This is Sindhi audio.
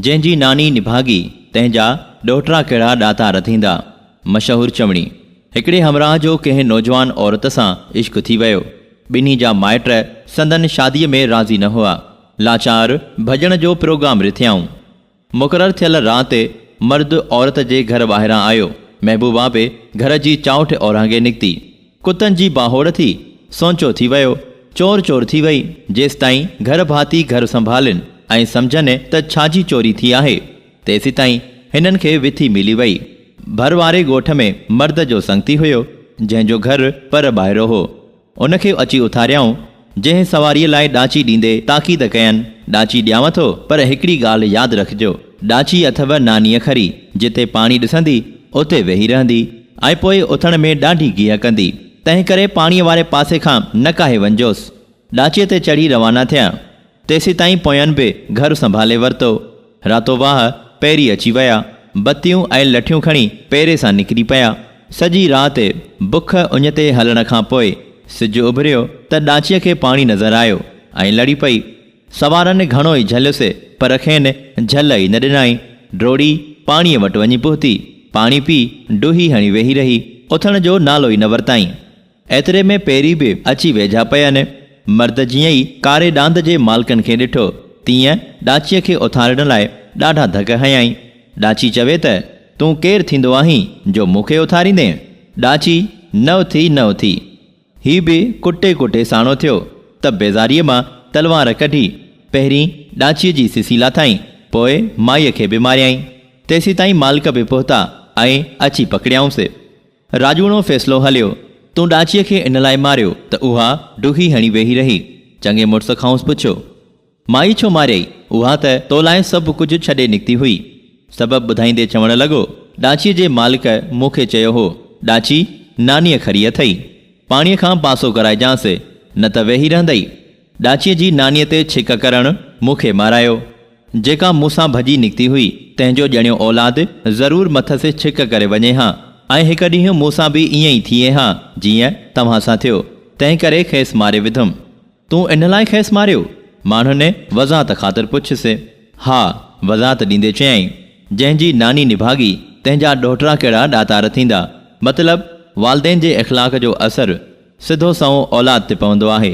جنهن جي ناني نڀاڳي، تنهن جا ڏوهٽرا ڪهڙا ڏاتا رڌيندا. مشهور چوڻي. هڪڙي همراهه جو ڪنهن نوجوان عورت سان عشق ٿي ويو. ٻنهي جا مائٽ سندن شاديء ۾ راضي نه هئا. لاچار ڀڄڻ جو پروگرام رٿيائون. مقرر ٿيل رات مرد عورت جي گهر ٻاهران آيو. محبوبا به گهر جي چائوٺ اورانگهي نڪتي. ڪتن جي ٻانهوڙ ٿي، سونچو ٿي ويو، چور چور ٿي وئي، جيستائين گهر ڀاتي گهر سنڀالين ۽ سمجهن ته ڇاجي چوري ٿي آهي، تيسيتائين هنن کي وٿي ملي وئي. ڀر واري ڳوٺ ۾ مرد جو سنگتي هيو، جنهن جو گهر پر ٻاهرو هو، ان کي اچي اٿاريائون، جنهن سواريء لاء ڏاچي ڏيندي تاڪيد ڪين، ڏاچي ڏيانء ٿو، پر هڪڙي ڳالهه ياد رکجو، ڏاچي اٿئو نانيء کري، جتي پاڻي ڏسندي، اتي ويهي رهندي، ۽ پوء اٿڻ ۾ ڏاڍي گيهه ڪندي، تنهنڪري پاڻيء واري پاسي کان نه ڪاهي وڃجوس. ڏاچيء تي چڙهي روانا ٿيا. تيسيتائين پويان به گهر سنڀالي ورتو. راتو واهه پيري اچي ويا. بتيون ۽ لٺيون کڻي پيري سان نڪري پيا. سڄي رات بک اڃ تي هلڻ کان پوء سج اڀريو ته ڏاچيء کي پاڻي نظر آيو ۽ لڙي پئي. سوارن گهڻو ئي جهليس پر کين جهل ئي نه ڏنائين. ڊوڙي پاڻيء وٽ وڃي پهتي. پاڻي پي ڊوهي هڻي ويهي رهي. اٿڻ جو نالو ئي نه ورتائين. ايتري ۾ پيري به اچي ويجها پيئن. مرد جيئن ئي ڪاري ڏاند جي مالڪن کي ڏٺو، تيئن ڏاچيء کي اٿارڻ لاء ڏاڍا ڌڪ هنيائين. ڏاچي چوي ته، تون ڪير ٿيندو آهين جو مون کي اٿاريندين؟ ڏاچي نه اٿي نه اٿي. هي به ڪٽي ڪٽي ساڻو ٿيو ته بيزاريء مان تلوار ڪڍي، پهرين ڏاچيء جي سسي لاٿائين، پوء مائيء کي به ماريائين. تيسيتائين مالڪ به پهتا ۽ اچي پڪڙيائونس. راڄوڻو فيصلو هليو. تون ڏاچيء کي ان لاء ماريو ته اها ڊگهي هڻي ويهي رهي. چڱي مڙس کانئس پڇيو. مائي ڇو ماريائي؟ اها ته تو لاء سڀ ڪجهه ڇڏي نڪتي هئي. سبب ٻڌائيندي چوڻ لڳو، ڏاچيء جي مالڪ مون کي چيو هو، ڏاچي، نانيء کري اٿئي. پاڻيء کان پاسو ڪرائجانس، نه ته ويهي رهندئي. ڏاچيء جي نانيء تي ڇڪ ڪرڻ مون کي مارايو. جيڪا مون سان ڀڄي نڪتي هئي، تنهن جو ڄڻيو اولاد ضرور مٿس ڇڪ ڪري وڃي ها ۽ هڪ ڏينهن مون سان به ائين ئي ٿئي ها، جيئن توهان سان ٿيو. تنهنڪري کيس ماري وڌم. تون ان لاء کيس ماريو؟ ماڻهن وضاحت خاطر پڇيس. ها، وضاحت ڏيندي چيائين، جنهن جي ناني نڀاڳي، تنهن جا ڏوهٽڙا ڪهڙا ڏاتار ٿيندا. مطلب، والدين جي اخلاق جو اثر سڌو سنئون اولاد تي پوندو آهي.